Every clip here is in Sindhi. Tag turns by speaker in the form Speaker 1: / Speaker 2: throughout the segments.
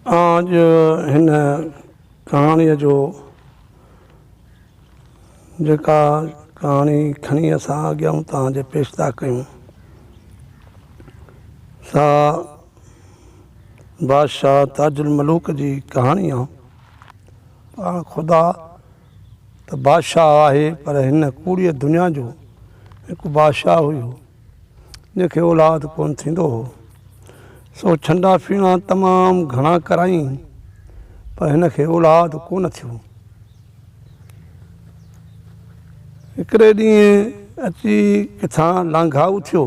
Speaker 1: آج هن ڪهاڻي جو جيڪا ڪهاڻي کڻي اسان اڳيان توهان جي پيش ٿا ڪيون سا بادشاهه تاج الملوڪ جي ڪهاڻي آ پاڻ خدا ته بادشاهه آهي پر هن ڪوڙيء دنيا جو هڪ بادشاهه هيو جنهن کي اولاد ڪونه ٿيندو هو سو ڇنڊا ڦيڻا تمام گهڻا ڪرايائين پر هن کي اولاد ڪونه ٿيو هڪڙي ڏينهن اچي ڪٿان لانگهائو ٿيو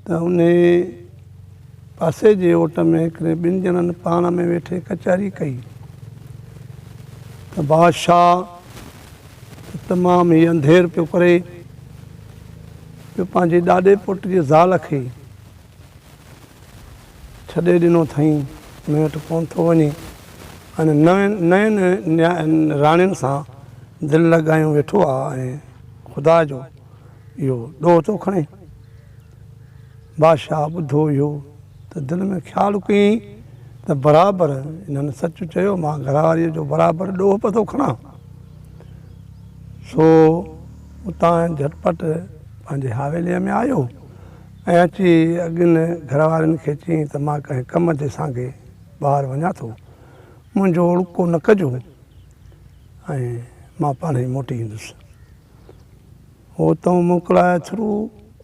Speaker 1: ته ان پاسي جي اوٽ ۾ هڪڙي ٻن ڄڻن پاڻ ۾ ويٺي ڪچهري ڪئي ته بادشاهه ته تمام ئي انڌير پيو ڪري جو پنهنجي ڏاڏي پٽ جي زال کي ڇڏي ڏنو ٿئين مون وٽ ڪونه ٿو وڃي ۽ نين نياڻين سان دل لڳايون ويٺو آهي ۽ خدا جو اهو ڏوهه ٿو کڻي. بادشاهه ٻڌو اهو ته دل ۾ خيال ڪيائين ته برابر انهن سچ چيو، مان گهر واريء جو برابر ڏوهه به ٿو کڻان. سو اتان جهٽ پٽ پنهنجي حويليء ۾ آيو ۽ اچي اڳين گهر وارين کي چيائين ته مان ڪنهن ڪم جي سانگي ٻاهر وڃان ٿو، منهنجو اوڙڪو نه ڪجو ۽ مان پاڻهئي موٽي ايندس. هو تون موڪلائي ٿرو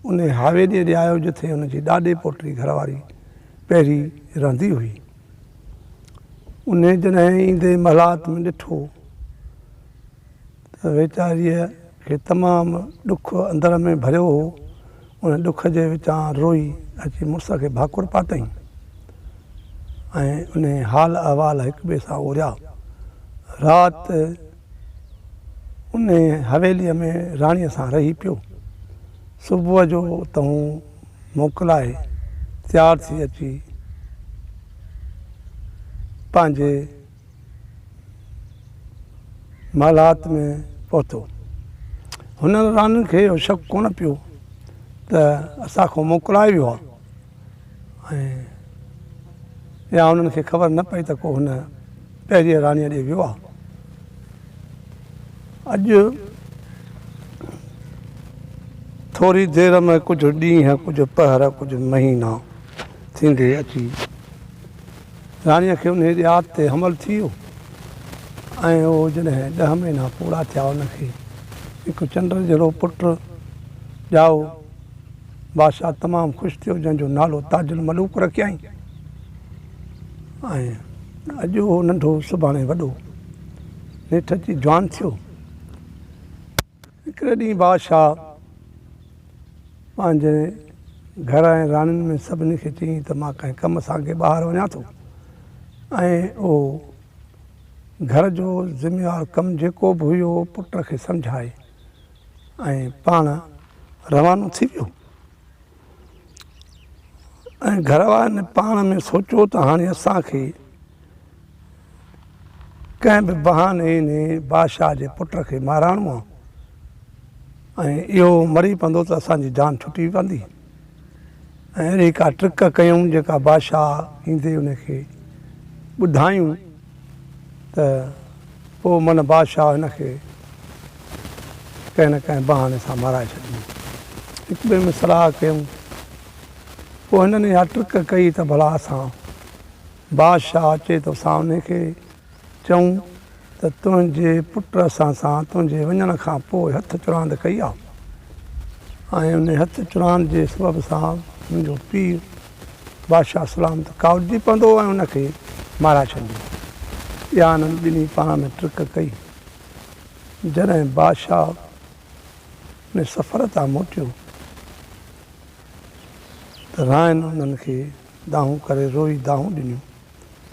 Speaker 1: انهي حويليء ڏي آيو جتي هن جي ڏاڏي پوٽي گهر واري پهرين رهندي هئي. انهي جڏهن ايندي محلات ۾ ڏٺو ته ويچاريء کي تمام ڏک اندر ۾ ڀريو هو. ان ڏک جي وچان روئي اچي مڙس کي ڀاڪر پاتئين ۽ انهي حال احوال هڪٻئي سان اوريا. رات ان حويليء ۾ راڻيء سان رهي پيو. صبح جو اتهون موڪلائي تيار ٿي اچي پنهنجي محلات ۾ پهتو. هنن راڻين کي اهو شڪ ڪونه پيو ته اسان کان موڪلائي ويو آهي. ۽ يا انهن کي خبر نه پئي ته ڪو هن پهرينء راڻيء ڏي ويو آهي. اڄ ٿوري دير ۾ ڪجهه ڏينهن، ڪجهه پهر، ڪجهه مهينا ٿيندي اچي راڻيء کي انهيء ڏيار تي حمل ٿي ويو ۽ اهو جڏهن ڏهه مهينا پورا ٿيا ان کي هڪ چنڊ جهڙو پٽ ڄائو، بادشاهه تمام خوش ٿيو جنهن جو نالو تاج الملوڪ رکيائين ۽ اڄ اهو ننڍو سڀاڻي وڏو نيٺ اچي جوان ٿيو هڪڙي ڏينهن بادشاهه پنهنجي گهر ۽ راڻين ۾ سڀني کي چيائين ته مان ڪنهن ڪم سان اڳي ٻاهر وڃان ٿو ۽ اهو گهر جو ذميوار ڪم جيڪو به هيو پٽ کي سمجهائي ۽ پاڻ روانو ٿي ويو ۽ گهر وارن پاڻ ۾ سوچيو ته هاڻي اسان کي ڪنهن به بهاني انهي بادشاهه جي پٽ کي مارائڻو آهي ۽ اهو مري پوندو ته اسان جي جان ڇٽي پوندي. ۽ اهڙي ڪا ٽرڪ ڪيائون جيڪا بادشاهه ايندي ان کي ٻڌايون ته پوء من بادشاهه هن کي ڪنهن نه ڪنهن بهاني سان مارائي ڇڏيندو هڪ ٻئي ۾ صلاح ڪيائون پوء هنن اها ٽرڪ ڪئي ته ڀلا اسان بادشاهه اچي ته اسان ان کي چئون ته تنهنجي پٽ اسان سان تنهنجي وڃڻ کان پوء هٿ چراند ڪئي آهي ۽ انهي هٿ چراند جي سبب سان منهنجو پيء بادشاهه سلامت ڪاوڙجي پوندو ۽ ان کي مارائي ڇڏيندو. اها انهن ٻنهي پاڻ ۾ ٽرڪ ڪئي. جڏهن بادشاهه انهي سفر تان موٽيو ته رائن انهن کي دانهون ڪري روئي دانهون ڏنيون.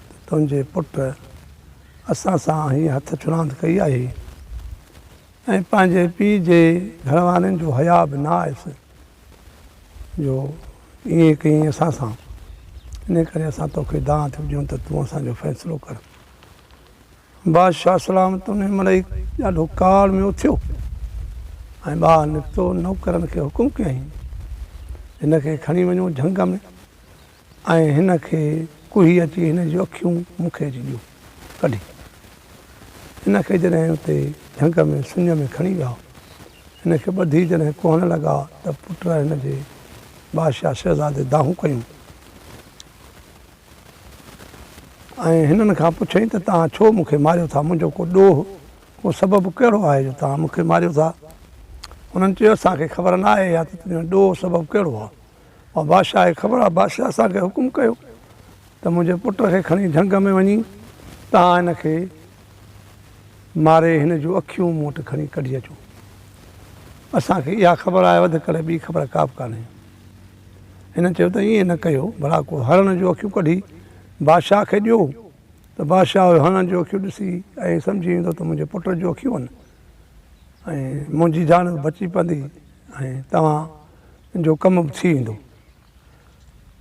Speaker 1: ته تنهنجي پٽ اسان سان هيء هٿ ڇراند ڪئي آهي ۽ پنهنجي پيء جي گهروارين جو حياء به نه آيس جو ائين ڪيئين اسان سان، انهيء ڪري اسان توکي دانهن ٿيون ڏيون ته تون اسان جو فيصلو ڪر. بادشاهه سلامت انهيء مهل ئي ڏاڍو ڪاوڙ ۾ اٿيو ۽ ٻاهر نڪتو نوڪرن کي حڪم ڪيائين، هن کي کڻي وڃو جهنگ ۾، ۽ هن کي ڪوهي اچي هن جون اکيون مون کي اچي ڏيو ڪڍي. هن کي جڏهن اتي جهنگ ۾ سڃ ۾ کڻي ويا. هن کي ٻڌي جڏهن ڪوهڻ لڳا ته پٽ هن جي بادشاهه شهزادي دانهون ڪيون ۽ هنن کان پڇيائين ته توهان ڇو مون کي ماريو ٿا منهنجو ڪو ڏوهه ڪو سبب ڪهڙو آهي جو توهان مون کي ماريو ٿا. هنن چيو اسان کي خبر نه آهي يا ته تنهنجو ڏوهه سبب ڪهڙو آهي. اهو بادشاهه کي خبر آهي بادشاهه اسان کي حڪم ڪيو ته منهنجي پٽ کي کڻي جهنگ ۾ وڃي تان هن کي ماري هن جون اکيون مون وٽ کڻي ڪڍي اچو اسان کي اها خبر آهي وڌ ڪري ٻي خبر ڪا به ڪانهي هن چيو ته ائين نه ڪيو ڀلا ڪو هرڻ جون اکيون ڪڍي بادشاهه کي ڏيو ته بادشاهه هرڻ جون اکيون ڏسي ۽ سمجهي ويندو ته منهنجي پٽ جون اکيون آهن ۽ منهنجي جان به بچي پوندي ۽ توهان جو ڪم به ٿي ويندو.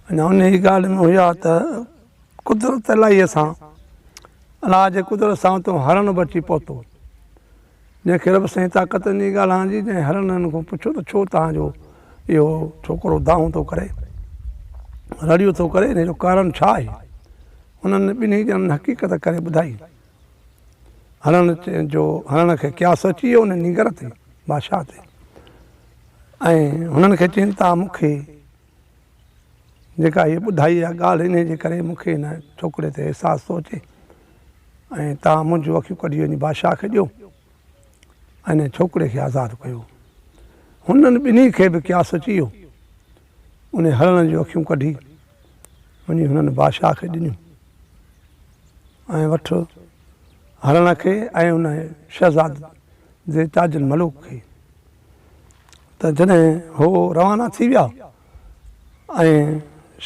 Speaker 1: اڃا انهيء ڳالهه ۾ هيا ته قدرت الاهيء سان، الله جي قدرت سان اتو هرڻ به اچي پهتو، جنهن کي رب سائين طاقت ڏني ڳالهائڻ جي، جنهن هرڻن کان پڇيو ته ڇو توهان جو اهو ڇوڪرو دانهون ٿو ڪري، رڙيون ٿو ڪري، ان جو ڪارڻ ڇا آهي؟ هنن ٻنهي ڄڻن حقيقت ڪري ٻڌائي. هڻڻ جو هڻڻ کي قياس اچي ويو ان نينگر تي، بادشاهه تي. ۽ هنن کي چين ته مون کي جيڪا هيء ٻڌائي اها ڳالهه انهيء جي ڪري مون کي هن ڇوڪري تي احساس ٿو اچي ۽ توهان منهنجون اکيون ڪڍي وڃي بادشاهه کي ڏيو ۽ انهيء ڇوڪري کي آزاد ڪيو. هنن ٻنهي کي به قياس اچي ويو. انهي هرڻ جون اکيون ڪڍي وڃي هنن بادشاهه کي ڏنيون ۽ وٺ هرڻ کي ۽ ان شهزاد جي تاج الملوڪ کي ته جڏهن هو روانا ٿي ويا ۽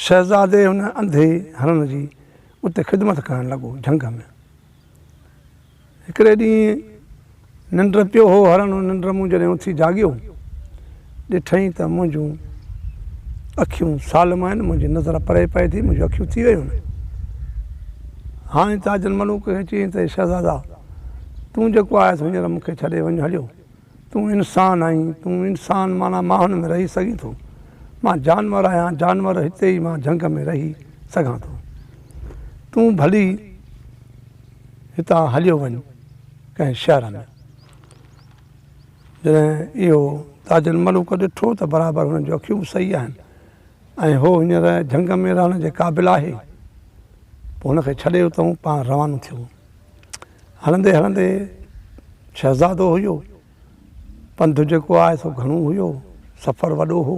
Speaker 1: شهزادي ان انڌي هرڻ جي اتي خدمت ڪرڻ لڳو جهنگ ۾ هڪڙي ڏينهن ننڊ پيو هو هرڻ ان ننڊ مون جڏهن اٿي جاڳيو ڏٺئين ته منهنجون اکيون سالم آهن منهنجي نظر پري پئي ٿي منهنجون اکيون ٿي ويون آهن هاڻي تاجن ملوڪ کي چيائين ته شهزادا تون جيڪو آهيس هينئر مون کي ڇڏي وڃ هليو تون انسان آهين تون انسان معنيٰ ماڻهن ۾ رهي سگهين ٿو مان جانور آهيان جانور هتي ئي مان جهنگ ۾ رهي سگهان ٿو تون ڀلي هتان هليو وڃ ڪنهن شهر ۾. جڏهن اهو تاج الملوڪ ڏٺو ته برابر هن جون اکيون به صحيح آهن ۽ هو هينئر جهنگ ۾ رهڻ جي قابل آهي. پوء هن کي ڇڏي اتان پاڻ روانو ٿيو. هلندي هلندي شهزادو هيو. پنڌ جيڪو آهي سو گهڻو هيو. سفر وڏو هو.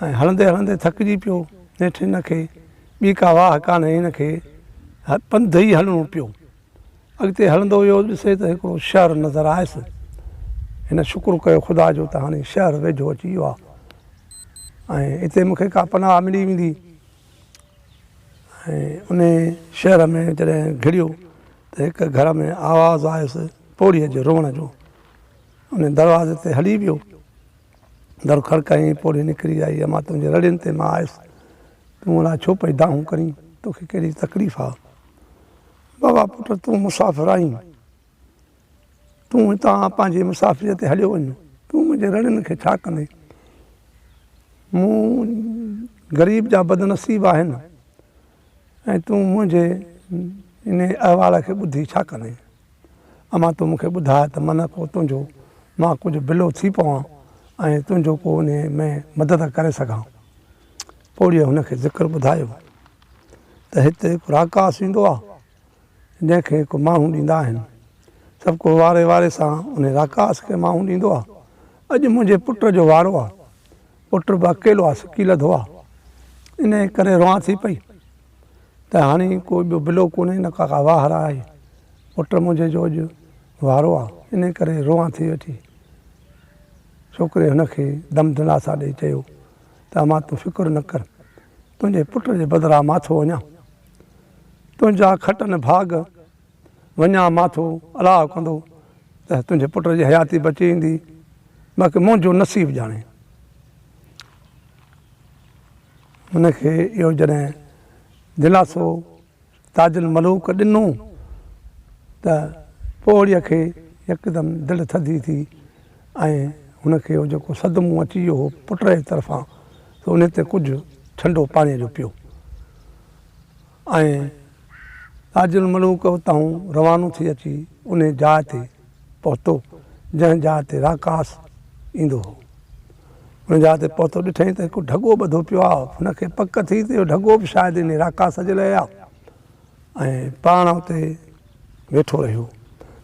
Speaker 1: ۽ هلندي هلندي ٿڪجي پيو. نيٺ هن کي ٻي ڪا واهه ڪانه هن کي پنڌ ئي هلڻو پيو. اڳتي هلندو ويو ڏسي ته هڪڙو شهر نظر آيس. هن شڪر ڪيو خدا جو ته هاڻي شهر ويجهو اچي ويو آهي ۽ هتي مون کي ڪا پناهه ملي ويندي. ۽ انهي شهر ۾ جڏهن گهڙيو ته هڪ گهر ۾ آواز آيس پوڙهيء جي روئڻ جو. ان دروازي تي هلي ويو. در کڙڪائين، پوڙهي نڪري آئي امان تنهنجي رڙين تي مان آيس، تون الاء ڇو پئي دانهون ڪرين، توکي ڪهڙي تڪليف آ؟ بابا پٽ تون مسافر آهين، تون هتان پنهنجي مسافريء تي هليو وڃ، تون منهنجي رڙين کي ڇا ڪندين؟ مون غريب جا بدنصيب آهن ۽ تون منهنجي انهي احوال کي ٻڌي ڇا ڪندين؟ امان تون مون کي ٻڌاء ته من ڪو تنهنجو مان ڪجهه بلو ٿي پوان ۽ تنهنجو ڪو ان ۾ مدد ڪري سگهان پوڙهيء هن کي ذڪر ٻڌايو ته هت هڪ راڪاس ايندو آهي جنهن کي هڪ ماڻهو ڏيندا آهن سڀ ڪو واري واري سان ان راڪاس کي ماڻهو ڏيندو آهي اڄ منهنجي پٽ جو وارو آهي پٽ به اڪيلو آهي سڪي لڌو آهي ان ڪري روئان ٿي پئي ته هاڻي ڪو ٻيو بلو ڪونهي نه ڪا واهه راه آهي پٽ منهنجي جو اڄ وارو آ انهي ڪري روئان ٿي ويٺي. ڇوڪري هن کي دم دلاسا ڏئي چيو ته امان تون فڪر نه ڪر تنهنجي پٽ جي بدران مان ٿو وڃان تنهنجا کٽن ڀاڳ وڃان مان ٿو الاء ڪندو ته تنهنجي پٽ جي حياتي بچي ايندي باقي منهنجو نصيب ڄاڻي. هن کي اهو جڏهن دلاسو تاج الملوڪ ڏنو ته پوڙهيء کي يڪدم دل ٿڌي ٿي ۽ هن کي اهو جيڪو صدمو اچي ويو هو پٽ جي طرفان سو انهي تي ڪجهه ٺنڊو پاڻيء جو پيو. ۽ تاج الملوڪ اتاهون روانو ٿي اچي انهي جاء تي پهتو جنهن جاء تي راڪاس ايندو هو. ان جاء تي پهتو ڏٺئين ته هڪ ڍڳو ٻڌو پيو آهي. هن کي پڪ ٿي ته اهو ڍڳو به شايد انهي راڪاس جي لاء آهي ۽ پاڻ اتي ويٺو رهيو.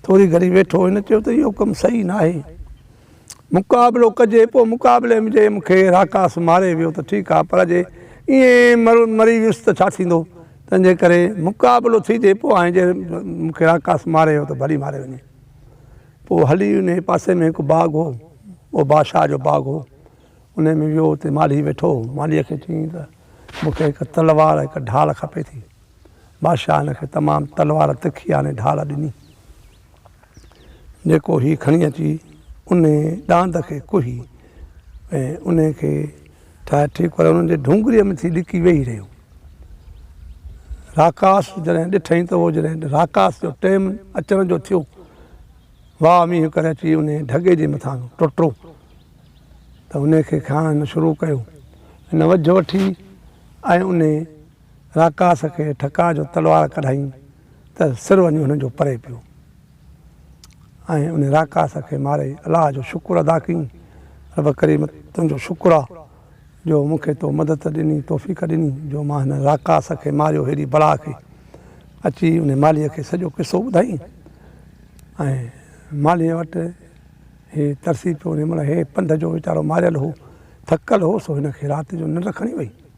Speaker 1: ٿوري گهڙي ويٺو هن چيو ته اهو ڪم صحيح ناهي مقابلو ڪجي پوء مقابلي ۾ جي مون کي راڪاس ماري ويو ته ٺيڪ آهي پر جي ائين مري ويس ته ڇا ٿيندو؟ تنهن جي ڪري مقابلو ٿيجي پوء آهي جي مون کي راڪاس ماري ويو ته ڀلي ماري وڃي. پوء هلي انهي پاسي ۾ هڪ باغ هو اهو بادشاهه جو باغ هو انهي ۾ ويو اتي مالهي ويٺو هو مالهيء کي چيائين ته مون کي هڪ تلوار هڪ ڍال کپي ٿي بادشاهه هن کي تمام تلوار تکي آڻي ڍال ڏني. جيڪو هي کڻي اچي انهي ڏاند کي ڪهي ۽ انهي کي ٺاهي ٺيڪ ڪري انهن جي ڍونگريء ۾ ٿي ڏڪي ويهي رهيو. راڪاس جڏهن ڏٺئي ته اهو جڏهن راڪاس جو ٽيم اچڻ جو ٿيو واهه مينهن ڪري اچي انهي ڍڳي جي مٿان ٽٽو ته انهي کي کائڻ هن شروع ڪيو. هن وجهه وٺي ۽ انهي راڪاس کي ٺڪاء جو تلوار ڪڍائين ته سر وڃي هنن جو پري پيو ۽ ان راڪاس کي ماري الله جو شڪر ادا ڪيئين، رب ڪريم تنهنجو شڪر آ جو مون کي تو مدد ڏني توفيق ڏني جو مان هن راڪاس کي ماريو هيڏي بلا کي. اچي ان مالهيء کي سڄو قصو ٻڌائين ۽ مالهيء وٽ هي ترسي پيو ان مهل هي پنڌ جو ويچارو ماريل هو ٿڪل هو سو هن کي رات جو ننڊ کڻي وئي.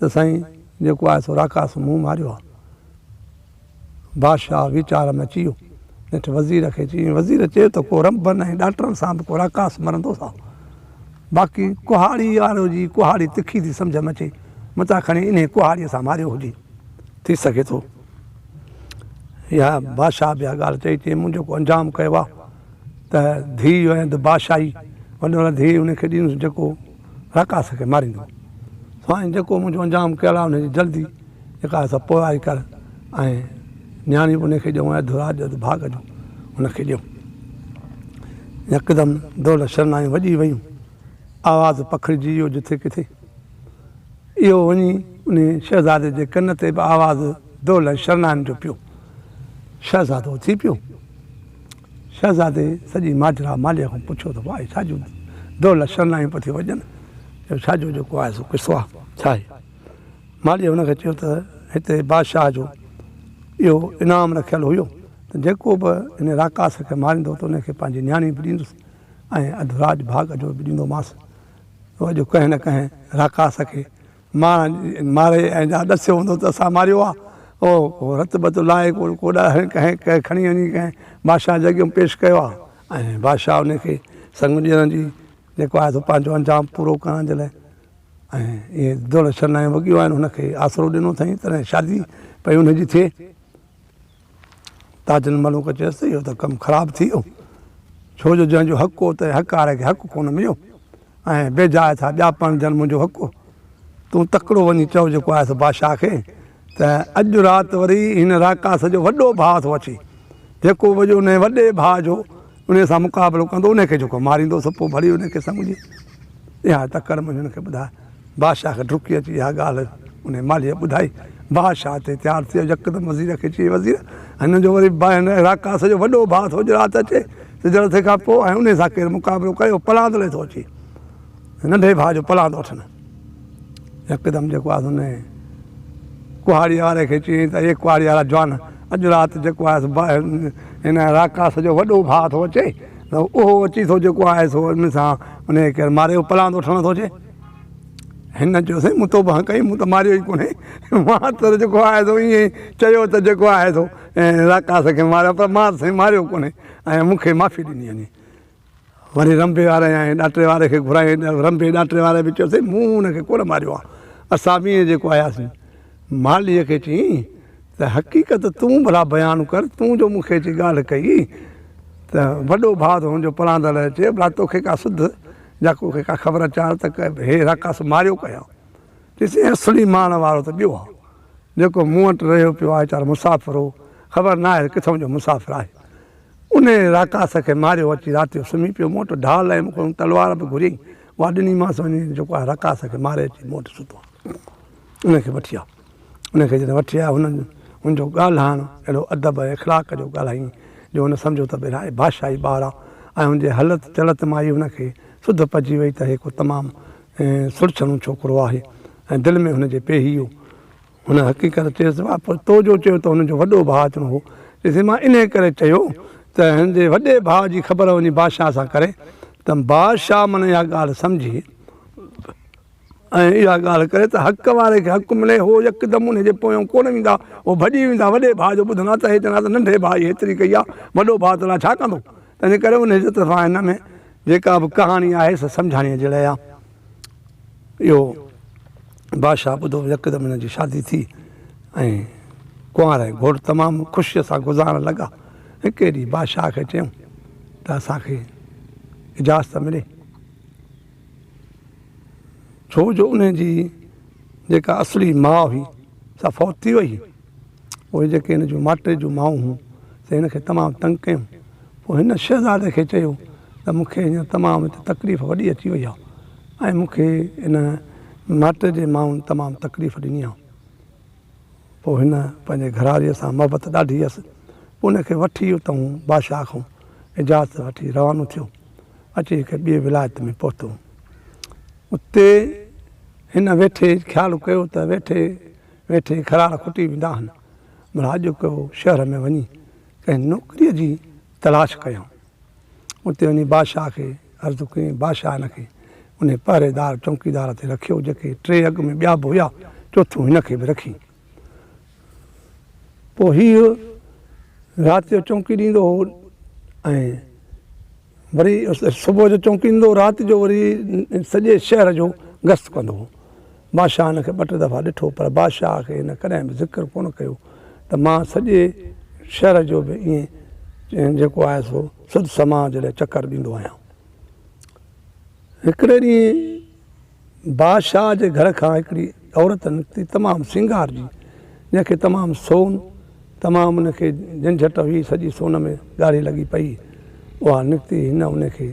Speaker 1: ته سائين جيڪو آهي سو راڪاس مون ماريو آهي. بادشاهه ويچار ۾ اچي ويو. نيٺ وزير کي چيائين، وزير چيو ته ڪو رنڀن ۽ ڏاٽرن سان به ڪو راڪاس مرندو سا باقي ڪهاڙي وارو جي ڪهاڙي تکي ٿي سمجهه ۾ اچي متان کڻي انهيء ڪهاڙيء سان ماريو هجي. ٿي سگهي ٿو اها بادشاهه به اها ڳالهه چئي چي مون جيڪو انجام ڪيو آهي ته ڌيء هئي ته بادشاهي وڏو نه ڌيء ان کي ڏينس جيڪو رڪاس کي ماريندو سائين جيڪو منهنجو انجام ڪيل آهي ان جي جلدي جيڪا آهي سا پورائي ڪر ۽ نياڻي به ان کي ڏيو اڌ راڄ اڌ ڀاڳ جو ان کي ڏيو يڪدم دولت شرنائيون وڄي ويون آواز پکڙجي ويو جٿي ڪٿي اهو وڃي ان شهزادي جي ڪن تي به آواز دولت شرنائن جو پيو شهزادو اٿي پيو شهزادي سڄي ماجرا مالهيء کان پڇيو ته واء ڇا جون دولهه شرنايون پيا ٿي وڄن، اهو ڇا جو جيڪو آهي سو قصو آهي ڇا آهي؟ مالهيء هن کي چيو ته هتي بادشاهه جو اهو انعام رکيل هيو ته جيڪو به هن راڪاس کي ماريندو ته ان کي پنهنجي نياڻي به ڏيندس ۽ اڌ راڄ ڀاڳ جو به ڏيندومانس، سو اڄ ڪنهن نه ڪنهن راڪاس کي مان مارئي ۽ جا ڏسيو هوندو ته اسان ماريو آ او هو رت بت لاهي ڪون ڪوڏا هڻي ڪنهن ڪنهن کڻي وڃي ڪنهن بادشاهه جي اڳيون پيش ڪيو آ ۽ بادشاهه ان کي سڱ ڏيڻ جي جيڪو آهي سو پنهنجو انجام پورو ڪرڻ جي لاء ۽ اهي دولت شرنائيون وڳيون آهن هن کي آسرو ڏنو اٿائين تڏهن شادي پئي ان جي ٿئي تاج الملوڪ چيس ته اهو ته ڪم خراب ٿي ويو، ڇو جو جنهن جو حق هو تنهن حقاره کي حق ڪونه مليو ۽ بيجاء ٿا ٻيا پرڻجن منهنجو حق هو. تون تڪڙو وڃي چئو جيڪو آهي سو بادشاهه کي ته اڄ رات وري هن راڪاس جو وڏو ڀاء ٿو اچي، جيڪو وڄو انهيء وڏي ڀاء جو انهيء سان مقابلو ڪندو، انهيء کي جيڪو ماريندو، سو پوء ڀلي انهيء کي سمجهي. اها تڪڙ مڃڻ کي ٻڌاء. بادشاهه کي ڊڪي اچي اها ڳالهه انهيء مالهيء ٻڌائي. بادشاهه اتي تيار ٿيو، يڪدم وزير کي چيائين، وزير! هن جو وري بائن اراڪاس جو وڏو ڀاء ٿو اڄ رات اچي، سجهڙ ٿيڻ کان پوء، ۽ انهيء سان ڪير مقابلو ڪيو، پلاند لئي ٿو اچي. ننڍي ڀاء جو پلاند وٺن. يڪدم جيڪو آهيس ان ڪهاڙي واري کي چيائين ته اي ڪهاڙي وارا جوان، اڄ رات جيڪو آهيس هن راڪاس جو وڏو ڀاء ٿو اچي ته اهو اچي ٿو جيڪو آهي سو ان سان انهيء کي ماري پلاند وٺڻ ٿو اچي. هن چيو سائين مون توبه هنئين ڪئي، مون ته ماريو ئي ڪونهي. مان ته جيڪو آهي سو ائين ئي چيو ته جيڪو آهي سو راڪاس کي ماريو پر مان سائين ماريو ڪونهي ۽ مون کي معافي ڏني وڃي. وڃي رنڀي واري ۽ ڏاٽري واري کي گهرائين. رنڀي ڏاٽري واري به چيو اٿئي، مون هن کي ڪونه ماريو آهي. اسان ٻيئي جيڪو آياسين. مالهيء کي چيائين ته حقيقت تون ڀلا بيان ڪر، تون جو مون کي اچي ڳالهه ڪئي ته وڏو ڀاء ٿو هنجو پراندل اچي ڀلا توکي ڪا سڌ يا توکي ڪا خبر اچار ته هي راڪاس ماريو ڪنهن آهي؟ چيسين هي اصلي مارڻ وارو ته ٻيو آهي، جيڪو مون وٽ رهيو پيو آهي ويچارو مسافر هو، خبر ناهي ته ڪٿئون جو مسافر آهي. انهيء راڪاس کي ماريو اچي رات جو سمهي پيو مون وٽ ڍال ۽ مون کان تلوار به گهريائين اها ڏنيمانس وڃي جيڪو آء راڪاس کي ماري اچي مون وٽ سوڌو ان کي وٺي آء ان کي جڏهن وٺي آيو هن هن جو ڳالهائڻ اهڙو ادب ۽ اخلاق جو ڳالهائين جو هن سمجهيو ته ڀيرا هي بادشاهي ٻار آ ۽ هن جي هلت چلت مان ئي هن کي سڌ پئجي وئي ته هي ڪو تمام سرڇڻو ڇوڪرو آهي ۽ دل ۾ هن جي پيهيو هن حقيقت چيس ته واء پر تو جو چيو ته هن جو وڏو ڀاء اچڻو هو. چيسين مان انهيء ڪري چيو ته هن جي وڏي ڀاء جي خبر وڃي بادشاهه سان ڪري ته بادشاهه من اها ڳالهه سمجهي ۽ اها ڳالهه ڪري ته حق واري کي حق ملي هو يڪدم انهيء جي پويان ڪونه ويندا هو ڀڄي ويندا وڏي ڀاء جو ٻڌندا ته هي چوندا ته ننڍي ڀاء جي هيتري ڪئي آهي وڏو ڀاء تون لاء ڇا ڪندو تنهنجي ڪري انهيء جي طرفان هن ۾ جيڪا به ڪهاڻي آهي سا سمجهاڻيء جهڙي آهي. اهو بادشاهه ٻڌو يڪدم هن جي شادي ٿي ۽ ڪنوار ۽ گهوٽ تمام خوشيء سان گذارڻ لڳا هڪ ئي ڏينهن بادشاهه کي چيائون ته اسانکي اجازت ملي ڇو جو ان جي جيڪا اصلي ماء هئي سا فوت ٿي وئي پوء جيڪي هن جون ماٽيء جون مائون هيون، سي هن کي تمام تنگ ڪيون. پوء هن شهزادي کي چيو ته مون کي هينئر تمام هتي تڪليف وڏي اچي وئي آهي ۽ مون کي هن ماٽيء جي مائن تمام تڪليف ڏني آهي. پوء هن پنهنجي گهراڙيء سان محبت ڏاڍي هيس. پوء هن کي وٺي اتان هو بادشاهه کان اجازت وٺي روانو ٿيو. اچي هڪ ٻيء ولايت ۾ پهتو. اتي هن ويٺي خيال ڪيو ته ويٺي ويٺي کراڙ کوٽي ويندا آهن، مون هاڄڪو شهر ۾ وڃي ڪنهن نوڪريء جي تلاش ڪيائون. اتي وڃي بادشاهه کي عرض ڪيائين، بادشاهه هن کي انهي پهريدار، چونڪيدار، تي رکيو، جيڪي ٽي اڳ ۾ ٻيا به هيا، چوٿون هن کي به رکي. پوء هيء رات جو چونڪي ڏيندو هو ۽ وري صبح جو چونڪيندو رات جو وري سڄي شهر جو گشت ڪندو هو. بادشاهه هن کي ٻه ٽي دفعا ڏٺو پر بادشاهه کي هن ڪڏهن به ذڪر ڪونه ڪيو ته مان سڄي شهر جو به ائين جيڪو آهي سو سڌ سماء جڏهن چڪر ڏيندو آهيان. هڪڙي ڏينهن بادشاهه جي گهر کان هڪڙي عورت نڪتي تمام سينگار جي جنهن کي تمام سون تمام ان کي جنجهٽ هئي سڄي سون ۾ ڳاڙهي لڳي پئي اها نڪتي هن ان کي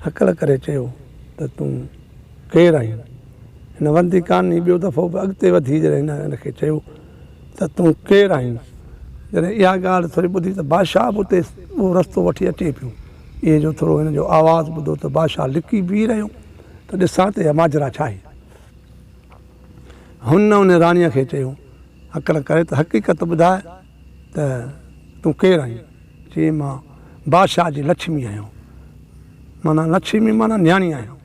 Speaker 1: هڪل ڪري چيو ته تون ڪير آهين هن وندي ڪاني ٻيو دفعو به اڳتي وڌي جڏهن هن ان کي چيو ته تون ڪير آهين جڏهن اها ڳالهه ٿوري ٻڌي ته بادشاهه به اتي اهو رستو وٺي اچي پيو اهي جو ٿورو هن جو آواز ٻڌو ته بادشاهه لڪي بيهي رهيو ته ڏسان ته اها ماجرا ڇا آهي؟ هن ان راڻيء کي چيو، هڪڙ ڪري ته حقيقت ٻڌاء ته تون ڪير آهين؟ چيائين، مان بادشاهه جي لڇمي آهيان. معنيٰ لڇمي معنيٰ نياڻي آهيان.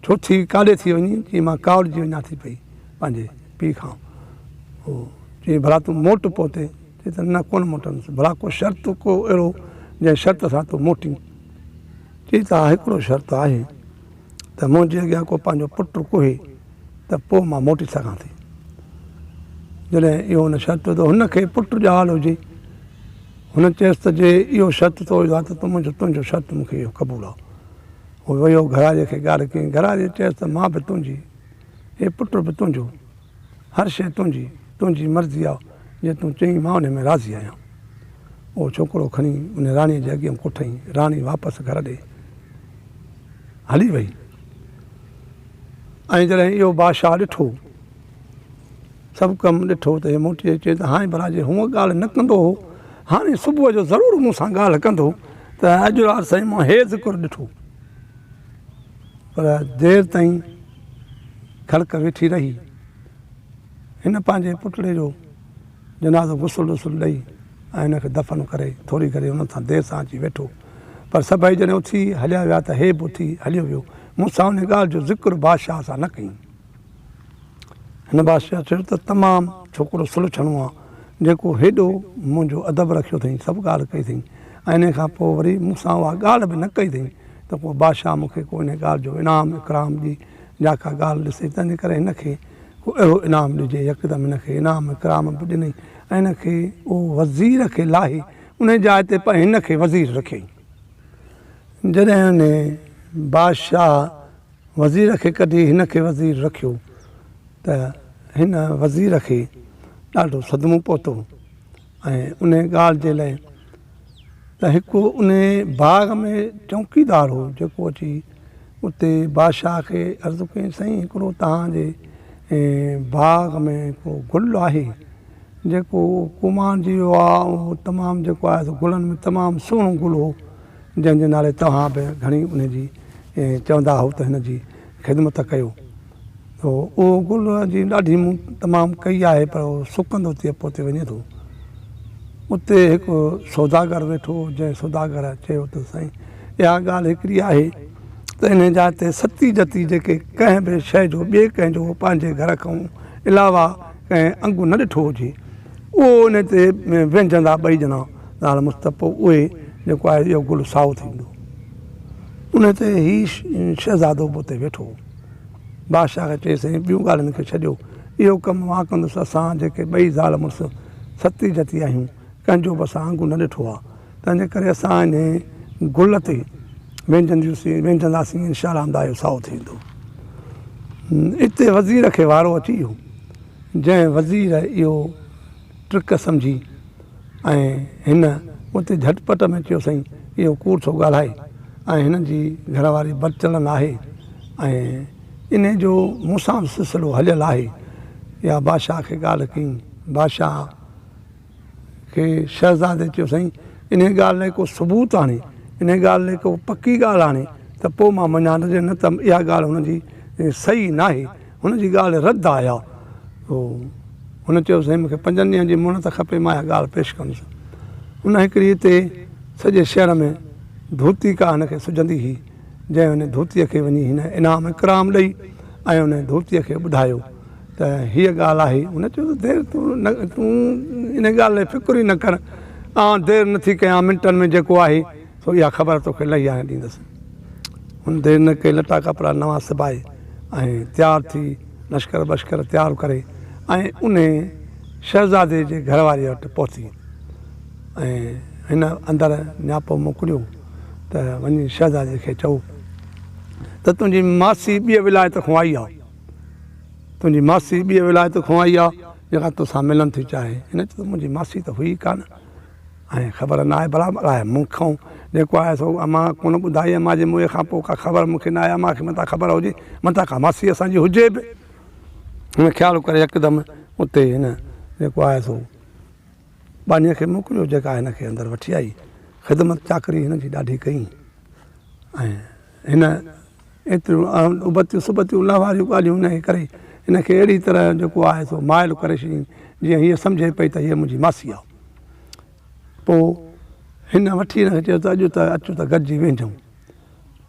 Speaker 1: ڇو ٿي ڪاڏي ٿي وڃين؟ چيائين، مان ڪاوڙجي وڃان ٿي پئي پنهنجي پيء کان. چيائين، ڀلا تون موٽ پوتي. چئي ته نه ڪونه موٽندس، ڀلا ڪو شرط ڪو اهڙو جنهن شرط سان تون موٽين. چئي ته ها هڪڙو شرط آهي ته منهنجي اڳيان ڪو پنهنجو پٽ ڪوهي ته پوء مان موٽي سگهان ٿي. جڏهن اهو هن شرط وڌو هن کي پٽ ڄاول هجي. هن چيس ته جي اهو شرط تو وڌو آهي ته منهنجو تنهنجو شرط مون کي اهو قبول آهي. هو ويو گهراڙي کي ڳالهه ڪيائين، گهراڙي چيس ته مان به تنهنجي، هي پٽ به تنهنجو. هر شيء تنهنجي، تنهنجي مرضي آ، جيئن تون چئين مان انهي ۾ راضي آهيان. اهو ڇوڪرو کڻي انهي راڻيء جي اڳيان ڪوٺئين. راڻي واپس گهر ڏي هلي وئي ۽ جڏهن اهو بادشاهه ڏٺو، سڀ ڪم ڏٺو ته هي موٽي اچي ته هانء ڀلا جي هونء ڳالهه نه ڪندو هو، هاڻي صبح جو ضرور مون سان ڳالهه ڪندو ته اڄ رات سائين مان هي ذڪر ڏٺو. پر دير تائين کڙڪ ويٺي رهي. هن پنهنجي پٽڙي جو جنازو غسل وسل ڏئي ۽ هن کي دفن ڪري ٿوري گهڙي انهن سان دير سان اچي ويٺو پر سڀئي جڏهن اٿي هليا ويا ته هي به اٿي هليو ويو. مون سان انهي ڳالهه جو ذڪر بادشاهه سان نه ڪيائين. هن بادشاهه چيو ته تمام ڇوڪرو سلڇڻو آ جيڪو هيڏو منهنجو ادب رکيو اٿئي سڀ ڳالهه ڪئي اٿئي. انهيء کان پوء وري مون سان اها ڳالهه به نه ڪئي اٿئي ته ڪو بادشاهه مون کي ڪو انهيء ڳالهه جو انعام اڪرام ڏي يا ڪا ڳالهه ڏسي تنهنجي ڪري هن کي ڪو اهڙو انعام ڏجي. يڪدم هن کي انعام اڪرام به ڏنئي ۽ هن کي او وزير کي لاهي انهيء جاء تي پ هن کي وزير رکيائين. جڏهن انهيء بادشاهه وزير کي ڪڍي هن کي وزير رکيو ته هن وزير کي ڏاڍو صدمو پهتو. ۽ ان ڳالهه جي لاء ته هڪ ان باغ ۾ چونڪيدار هو جيڪو اچي اتي بادشاهه کي عرض ڪيائين سائين هڪڙو تهانجي باغ ۾ ڪو گل آهي جيڪو ڪومان جي ويو آهي اهو تمام جيڪو آهي سو گلن ۾ تمام سهڻو گل هو جنهن جي نالي توهان به گهڻي ان جي چوندا هو ته هن جي خدمت ڪيو ٿو اهو گل جي ڏاڍي مون تمام ڪئي آهي پر اهو سڪندو ٿي پوتي وڃي ٿو اتي هڪ سوداگر ويٺو هو جنهن سوداگر چيو ته سائين اها ڳالهه هڪڙي آهي ته ان جا ته ستي جتي جيڪي ڪنهن به شيء جو ٻئي ڪنهن جو پنهنجي گهر کان علاوه ڪنهن انگ نه ڏٺو هجي اهو ان تي وينجهندا ٻئي ڄڻا نال مستب پوء اهي جيڪو آهي اهو گل سائو ٿيندو ان تي هي شهزادو به اتي ويٺو بادشاهه کي چيس ۽ ٻيون ڳالهين کي ڇڏيو، اهو ڪم مان ڪندس، اسان جيڪي ٻئي زال مڙس ستي جتي آهيون، ڪنهن جو به اسان آنگون نه ڏٺو آهي، تنهنجي ڪري اسان انهيء گل تي وينجهنداسين، انشاء الله همدا اهو سائو ٿيندو. اتي وزير کي وارو اچي ويو، جنهن وزير اهو. ٽرڪ سمجهي ۽ هن اتي جهٽ پٽ ۾ چيو سائين اهو ڪوڙ ٿو ڳالهائي ۽ هن جي گهر واري بد چڙن آهي ۽ انهي جو مون سان به سلسلو هليل آهي يا بادشاهه کي ڳالهه ڪئين بادشاهه کي شهزادي چيو سائين انهي ڳالهه لاء ڪو ثبوت آڻي انهي ڳالهه لاء ڪو پڪي ڳالهه آڻي ته پوء مان مڃان نه ته اها ڳالهه هن جي صحيح ناهي هن جي ڳالهه رد آيا تو هن چيو سائين مونکي پنجن ڏينهن جي مهلت کپي مان اها ڳالهه پيش ڪندس ان هڪڙي هتي سڄي شهر ۾ ڌوتي ڪا هن کي سجهندي هئي جنهن هن ڌوتي کي وڃي هن انعام اڪرام ڏئي ۽ ان ڌوتي کي ٻڌايو ته هيء ڳالهه آهي هن چيو ته دير تون تون ان ڳالهه لاء فڪر ئي نه ڪر آئون دير نٿي ڪيان منٽن ۾ جيڪو آهي سو اها خبر توکي لهي آهيان ڏيندس. هن دير نه ڪئي لٽا ڪپڙا نوان سبائي ۽ تيار ٿي لشڪر بشڪر تيار ڪري ۽ انهي شهزادي جي گهر واريء وٽ پهتي ۽ هن اندر نياپو موڪليو ته وڃي شهزادي کي چئو ته تنهنجي ماسي ٻيء ولايت کان آئي آهي تنهنجي ماسي ٻيء ولايت کان آئي آهي جيڪا توسان ملڻ ٿي چاهي هن چيو ته منهنجي ماسي ته هئي ڪانه ۽ خبر نه آهي برابر آهي مون کان جيڪو آهي سو اما ڪونه ٻڌائي اما جي موئي کان پوء ڪا خبر مون کي نه آهي اما کي متان خبر هجي متان ڪا ماسي اسان جي هجي به هن خيال ڪري يڪدم اتي هن جيڪو آهي سو ٻانهيء کي موڪليو جيڪا هن کي اندر وٺي آئي خدمت چاڪري هن جي ڏاڍي ڪئي ۽ هن ايتريون اڻ ابتيون سبتيون نه واريون ڳالهيون هن کي ڪري هن کي اهڙي طرح جيڪو آهي سو مائل ڪري ڇڏيائين جيئن هيء سمجهي پئي ته هيء منهنجي ماسي آهي پوء هن وٺي هن کي چيو ته اڄ ته اچ ته گڏجي ويهجون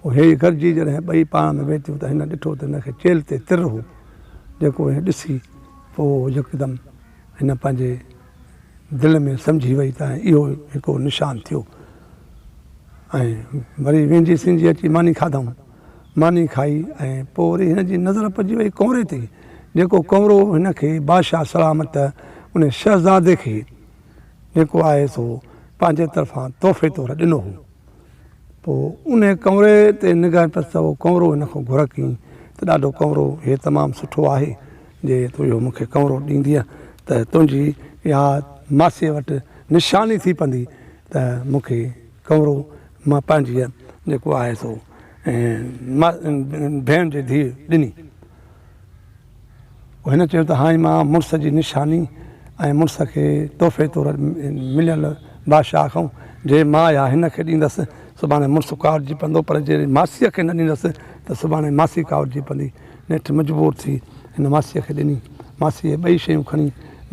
Speaker 1: پوء هي گڏجي جڏهن ٻئي پاڻ ۾ ويتيون ته هن ڏٺو ته هن کي چيلهه تي تر هو جيڪو هي ڏسي پوء يڪدم هن پنهنجي دل ۾ سمجهي وئي ته اهو هڪو نشان ٿيو ۽ وري ويندي سنجهي اچي ماني کاڌائون ماني کائي ۽ پوء وري هن جي نظر پئجي وئي ڪؤنري تي جيڪو ڪؤنرو هن کي بادشاهه سلامت ان شهزادي کي جيڪو آهي سو پنهنجي طرفان تحفي طور ڏنو هو پوء ان ڪؤنري تي نگاهه پيس ته اهو ڪؤنرو هن کان گهرڪ ته ڏاڍو ڪؤنرو هي تمام سٺو آهي جي تون اهو مون کي ڪئنرو ڏيندينء ته تنهنجي اها ماسيء وٽ نشاني ٿي پوندي ته مون کي ڪئنرو مان پنهنجيء جيڪو آهي سو ڀيڻ جي ڌيء ڏني. پوء هن چيو ته هائين مان مڙس جي نشاني ۽ مڙس کي تحفي طور مليل بادشاهه کان جي مان اها هن کي ڏيندس سڀاڻي مڙس ڪاوڙجي پوندو پر جي ماسيء کي نه ڏيندس ته سڀاڻي ماسي ڪاوڙجي پوندي. نيٺ مجبور ٿي هن ماسيء کي ڏني. ماسيء ٻئي شيون کڻي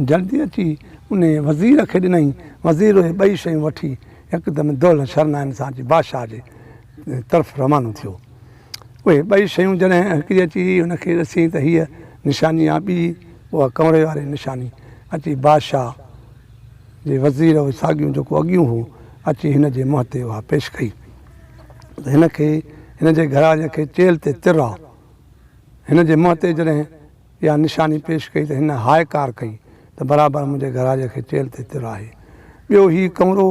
Speaker 1: جلدي اچي انهيء وزير کي ڏنائين. وزير اهي ٻئي شيون وٺي يڪدم دولهه شرنائن سان اچي بادشاهه جي طرف روانو ٿيو. اهي ٻئي شيون جڏهن هڪڙي اچي هن کي ڏسيائين ته هيء نشاني آ ٻي اها ڪنوري واري نشاني اچي بادشاهه جي وزير اهي ساڳيون جيڪو اڳيون هو اچي هن جي منهن تي اها پيش ڪئي. ته هن کي هن جي گهراڻي کي چيلهه تي تر آ. هن جي منهن تي جڏهن اها نشاني پيش ڪئي ته هن هاء ڪار ڪئي ته برابر منهنجي گهراڙيء کي چيلهه تي تر آهي. ٻيو هي ڪمرو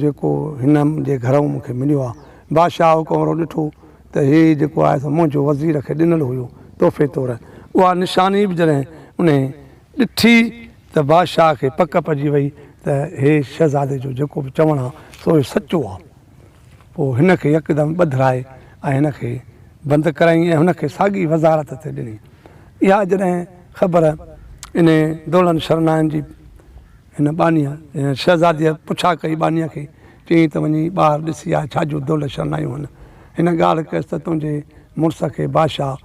Speaker 1: جيڪو هن جي گهرئون مون کي مليو آ. بادشاهه اهو ڪمرو ڏٺو ته هي جيڪو آهي سو منهنجو وزير کي ڏنل هيو تحفي طور. اها نشاني به جڏهن انهي ڏٺي ته بادشاهه کي پڪ پئجي وئي ته هي شهزادي جو جيڪو به چوڻ آ سو سچو آ. پوء هن کي يڪدم ٻڌرائي ۽ هن کي بند ڪرايائين ۽ هن کي ساڳي وزارت تي ڏني. اها جڏهن خبر انهي دولن شرنائن جي هن ٻانهيء، يعني شهزاديء، پڇا ڪئي ٻانهيء کي، چيائين ته وڃي ٻاهر ڏسي آء ڇا جون دول شرنايون هن. هن ڳالهه ڪيس ته تنهنجي مڙس کي بادشاهه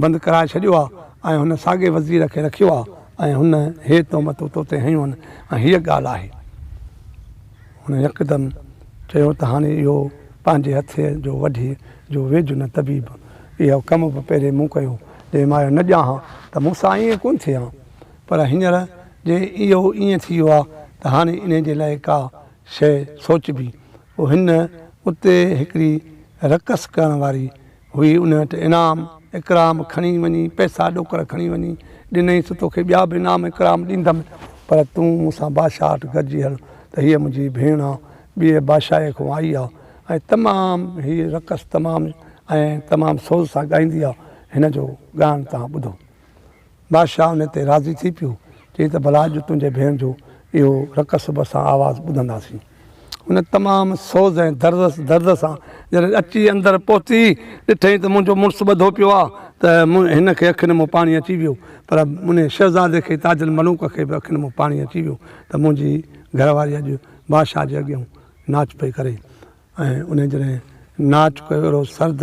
Speaker 1: بند ڪرائي ڇڏيو آ ۽ هن ساڳي وزير کي رکيو آ ۽ هن هي تهمتون توتي هنيون هن ۽ هيء ڳالهه آهي. هن يڪدم چيو ته هاڻي اهو پنهنجي هٿيء جو وڍيء جو ويجهه نه طبيب! اهو ڪم به پهرين مون ڪيو، جي مايو نه ڄاهان ته مون سان ائين ڪونه ٿئي ها، پر هينئر جي اهو ائين ٿي ويو آهي ته هاڻي انهيء جي لاء ڪا شيء سوچبي. پوء هن اتي هڪڙي رقص ڪرڻ واري هئي ان وٽ انعام اڪرام کڻي وڃي پئسا ڏوڪڙ کڻي وڃي ڏنئينس ته توکي ٻيا به انعام اڪرام ڏيندم پر تون مون سان بادشاهه وٽ گڏجي هل ته هيء منهنجي ڀيڻ آ ٻيء بادشاهيء کان آئي آ ۽ تمام هيء رقص تمام ۽ تمام سوز سان ڳائيندي آ هن جو ڳائڻ توهان ٻڌو. بادشاهه ان تي راضي ٿي پيو، چيائين ته ڀلا اڄ تنهنجي ڀيڻ جو اهو رڪ سڀ سان آواز ٻڌنداسين. هن تمام سوز ۽ درد سان جڏهن اچي اندر پهتي، ڏٺائين ته منهنجو مڙس ٻڌو پيو آهي ته هن کي اکين مان پاڻي اچي ويو، پر ان شهزادي کي تاج الملوڪ کي به اکين مان پاڻي اچي ويو ته منهنجي گهر واري اڄ بادشاهه جي اڳيان ناچ پئي ڪري. ۽ انهيء جڏهن ناچ ڪيو اهڙو سرد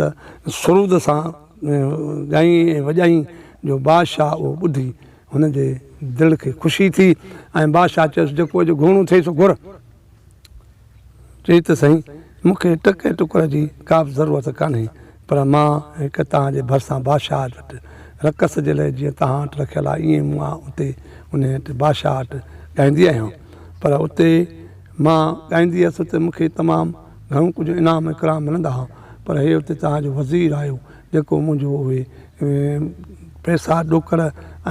Speaker 1: سرود سان ڳايئين ۽ وڄايئين جو بادشاهه اهو ٻڌي هن جي دل کي خوشي ٿي ۽ بادشاهه چيس جيڪو اڄ گهڻو ٿئي سو گهر. چئي ته سائين مون کي ٽڪ ۽ ٽڪر جي ڪا به ضرورت ڪانهي پر مان هڪ توهان جي ڀرسان بادشاهه وٽ رقص جي لاء جيئن توهان وٽ رکيل آهي ايئن مون آء اتي انهيء وٽ بادشاهه وٽ ڳائيندي آهيان پر اتي مان ڳائيندي هيس ته مون کي تمام گهڻو ڪجهه انعام ۽ اڪرام ملندا هئا پر هيء اتي توهان جو وزير آيو جيڪو منهنجو اهي پئسا ڏوڪڙ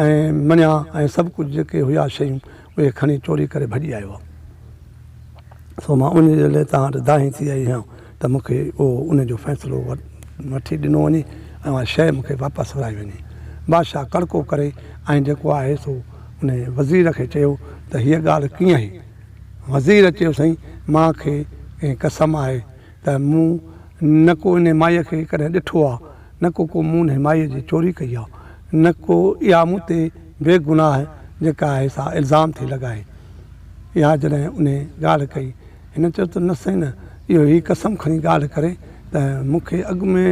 Speaker 1: ۽ مڃا ۽ سڀ ڪجهه جيڪي هيا شيون اهي کڻي چوري ڪري ڀڄي آيو آهي سو مان انهيء جي لاء توهان وٽ دانهين ٿي آئي آهيان ته مون کي اهو ان جو فيصلو وٺي ڏنو وڃي ۽ اها شيء مون کي واپس ورائي وڃي بادشاهه ڪڙڪو ڪري ۽ جيڪو آهي سو انهيء وزير کي چيو ته هيء ڳالهه ڪيئن هي وزير چيو سائين مان کي ڪنهن قسم آهي ته مون نه ڪو انهي مائي کي ڪڏهن ڏٺو آ نه ڪو ڪو مون انهي مائي جي چوري ڪئي آ نه ڪو اها مون تي بي گناهه جيڪا آهي سا الزام ٿي لڳائي اها جڏهن انهي ڳالهه ڪئي هن چيو ته نه سائين نه اهو هي قسم کڻي ڳالهه ڪري ته مون کي اڳ ۾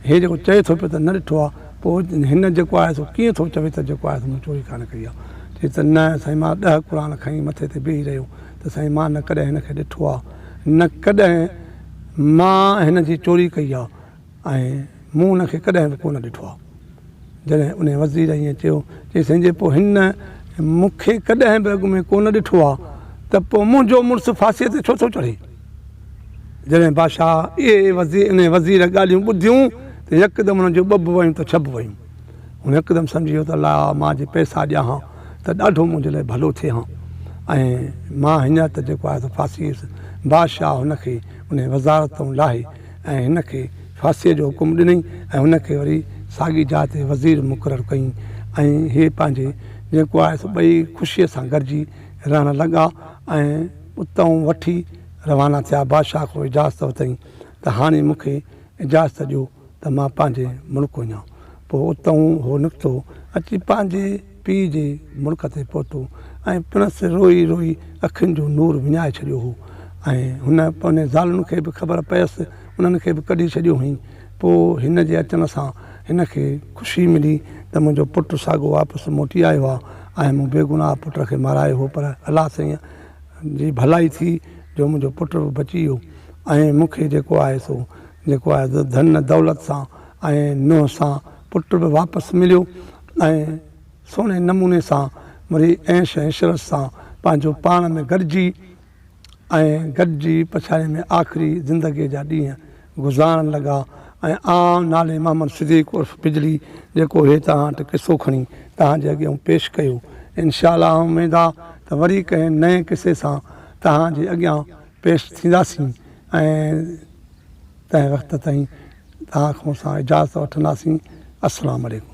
Speaker 1: هي جيڪو چئي ٿو پيو ته نه ڏٺو آهي پوء هن جيڪو آهي سو ڪيئن ٿو چوي ته جيڪو آهي سو مون چوري ڪانه ڪئي آهي چيس ته نه سائين مان ڏهه قرآن کڻي مٿي تي بيهي رهيو ته سائين مان نه ڪڏهن هن کي ڏٺو آهي نه ڪڏهن مان هن جي چوري ڪئي آهي ۽ مون ان کي ڪڏهن به ڪونه ڏٺو آهي. جڏهن ان وزير ائين چيو، چيسين جي پوء هن مون کي ڪڏهن به اڳ ۾ ڪونه ڏٺو آهي ته پوء منهنجو مڙس ڦاسيء تي ڇو ٿو چڙهي؟ جڏهن بادشاهه اهي انهيء وزير ڳالهيون ٻڌيون ته يڪدم هن جون ٻڀ ويون ته ڇڀ ويون. هن هڪدم سمجهي ويو ته الا مان جي پئسا ڏيان ها ته ڏاڍو منهنجي لاء ڀلو ٿئي ها ۽ مان هينئر ته جيڪو آهي سو ڦاسي ويس. بادشاهه هن کي انهيء وزارت تان لاهي، ۽ هن کي ڦاسيء جو حڪم ڏنئي ۽ هن کي وري ساڳي جاء تي وزير مقرر ڪيئي ۽ هي پنهنجي جيڪو آهي سو ٻئي خوشيء سان گڏجي رهڻ لڳا ۽ اتئون وٺي روانا ٿيا بادشاهه کان اجازت ورتائين ته هاڻي مون کي اجازت ڏيو ته مان پنهنجي ملڪ وڃان پوء اتئون هو نڪتو اچي پنهنجي پيء جي مڙڪ تي پهتو ۽ پڻس روئي روئي اکين جو نور وڃائي ڇڏيو هو ۽ هن پنهنجين زالن کي به خبر پيس انهن کي به ڪڍي ڇڏيو هئين پوء هن جي اچڻ سان هن کي خوشي ملي ته منهنجو پٽ ساڳو واپس موٽي آيو آهي ۽ مون بيگناهه پٽ کي مارايو هو پر الله سائين جي ڀلائي ٿي جو منهنجو پٽ به بچي ويو ۽ مون کي جيڪو آهي سو جيڪو آهي ڌن دولت سان ۽ نوح سان پٽ به واپس مليو ۽ سهڻي نموني سان وري عيش ۽ عشرت سان پنهنجو پاڻ ۾ گڏجي ۽ گڏجي پڇاڙي ۾ آخري زندگيء جا ڏينهن گذارڻ لڳا ۽ آئون نالي محمد صديق عرف بجلي جيڪو هي توهان وٽ قصو کڻي توهان جي اڳيون پيش ڪيو انشاء الله اميد آ ته وري ڪنهن نئين قصي سان توهان جي اڳيان پيش ٿينداسين ۽ تنهن وقت تائين توهان کان اسان اجازت وٺنداسين السلام عليڪم.